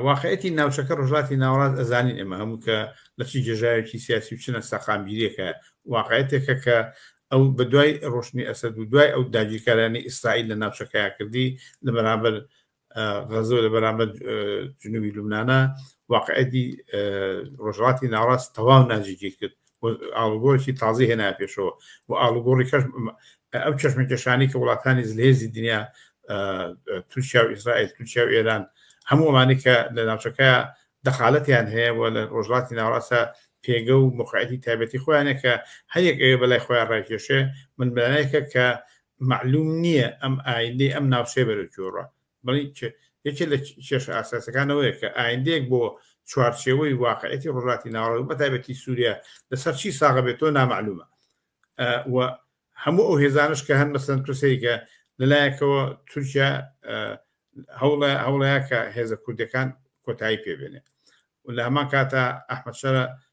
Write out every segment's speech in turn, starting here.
واقعیەتی ناوچەکە ڕژاتی ناوەڕاست ئەزانین ئێمە هەموو کە لە چی جێژاوێکی سیاسی و چنە سەقامگیریەکە واقعەتێکە کە ئەو بە دوای ڕۆشنی ئەسەد و دوای ئەو داگیرکارانی ئیسرائیل لە ناوچەکەیا کردی لە بەرامبەر غەزۆ لە بەرامبەر جنوبی لوبناە واقعەتی ڕۆژڵاتی ناڕاست تەواو ناجیگیر کرد و ئاڵوگۆڕێکی تازەی هێنایە پێشەوە و ئاڵوگۆڕی کەش ئەو چەشمەکێشانی کە وڵاتانی زلهێزی دنیا تورکیا و ئیسرائیل تورکیا و ئێران هەموو ئەمانی کە لە ناوچەکە دەخالەتیان هەیە و لە ڕۆژڵاتی ناوەڕاستە پێگە و مقعەتی تایبەتی خۆیانە کە هەیەک ئەوێ بەلای خۆیان ڕایکێشێ من بەلایەکە کە معلوم نییە ئەم ئایندەی ئەم ناوچەیە بەرەو گۆڕە بەڵی یەکێ لە کێشە ئاساسەکانەوەیە کە ئایندەیەک بۆ چوارچێوەی واقعەتی ڕۆژاتی ناوەڕۆک بە تایبەتی سووریا لەسەر چی ساغە بێت تۆ نامەعلومە و هەموو ئەو هێزانش کە هەن مەسەن تووسەیکە لەلایەکەوە تورکیا هەوڵە هەوڵەیە کە هێزە کوردەکان کۆتایی پێبێنێ و لە هەمان کاتە ئەحمەشەرە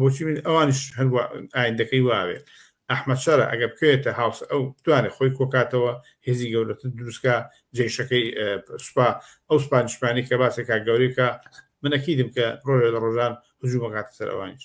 بۆچی من ئەوانیش هەر وا ئایندەکەی واوێ ئەحمەد شەرع ئەگەر بکەوێتە هاوس ئەو بتوانێت خۆی کۆکاتەوە هێزی گەورەتر دروستکە جێشەکەی سوپا ئەو سوپانیشمانی کە باسێکا گەورەکە من ئەکیدم کە ڕۆژێ لە ڕۆژان هجوومەکاتە سەر ئەوانیش